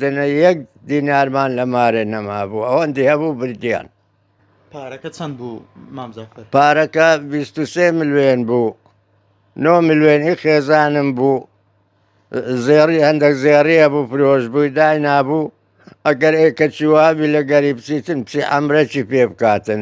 دەنا یەک دینارمان لە مارێ نەمابوو ئەوەندی هەبوو بردیان. پارەکە چەند بوو مامزەفەر؟ پارەکە بیست و سێ ملوێن بوو نۆ ملوێنی خێزانم بوو زێڕی هەندێک زێڕیە بوو فرۆش بووی دای نابوو ئەگەر ئێکەچی وابی لە گەری بچیتن چی ئەمرەکی پێ بکاتن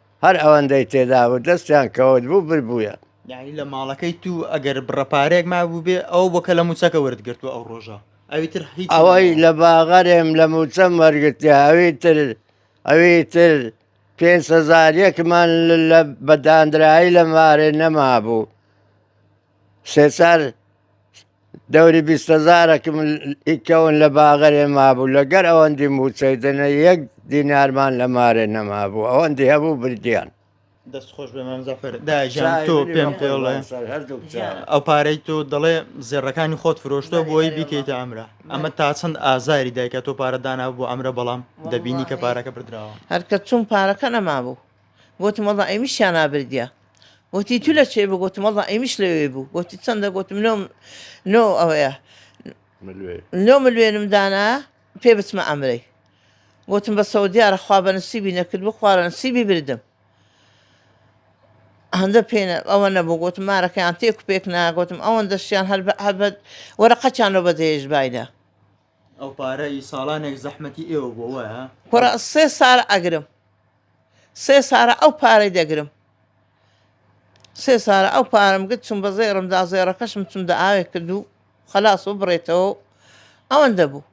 هەر ئەوەندەی تێدا بوو دەستیان کەوت بوو بر بوویە. یانی لە ماڵەکەی تو ئەگەر بڕە پارەیەک مابووبێ ئەوە بۆ کە لە موچەکە وەرت گرتووە ئەو ڕۆژە ئەوی تر هیچ ئەوەی لە باغەرێم لە موچەم وەرگتیا ئەوی تر ئەوی تر پێنج هەزار یەکمان لە بەداندرایی لە مارێ نەمابوو سێ چار دەوری بیستەزارەکم ئیکەون لە باغەێ مابوو لە گەر ئەوەندی موچەی دەنە یەک دینارمان لە مارێ نەمابوو ئەوەندی هەبوو بردیان دەست خۆش بێ مامزافر داژان تۆ پێم پێڵێ ئەو پارەی تۆ دەڵێ زێڕەکانی خۆت فرۆشتۆ بۆی بیکەیتە ئەمرە ئەمە تا چەند ئازاری دایکە تۆ پارە دانا بۆ ئەمرە بەڵام دەبینی کە پارەکە بردراوە هەرکە چوون پارەکە نەمابوو گۆتم، وەڵڵا ئەیمیشیان ئابردیە. گۆتی، تو لە کوێی بوو؟ گۆتم، وەڵڵا ئەیمیش لەوێی بوو. گۆتی، چەندە؟ گۆتم، نۆ نۆ ئەوەیە. ملوێن. نۆ ملوێنم دانا پێ بچمە ئەمرەی. گۆتم، بەسەوە دیارە خوا بە نسیبی نەکردبوو، خوا لە نسیبی بردم. هەندە پێ نە ئەوە نەبوو. گۆتم، مارەکەیان تێک و پێک نا. گۆتم، ئەوەندەشیان هەر بە هەر بە وەرەقەکیان لۆ بەجێهێشت باینە. ئەو پارەی ساڵانێک زەحمەتی ئێوە بووە، وایە؟ کوڕە سێ ساڵە ئەگرم. سێ سارە ئەو پارەی دەگرم. سێ سارە ئەو پارەم گرت چوم بە زێڕم دا زێڕەکەشم چوم دە ئاوێک کرد و خەلاس و بڕێتەوە و ئەوەندە بوو.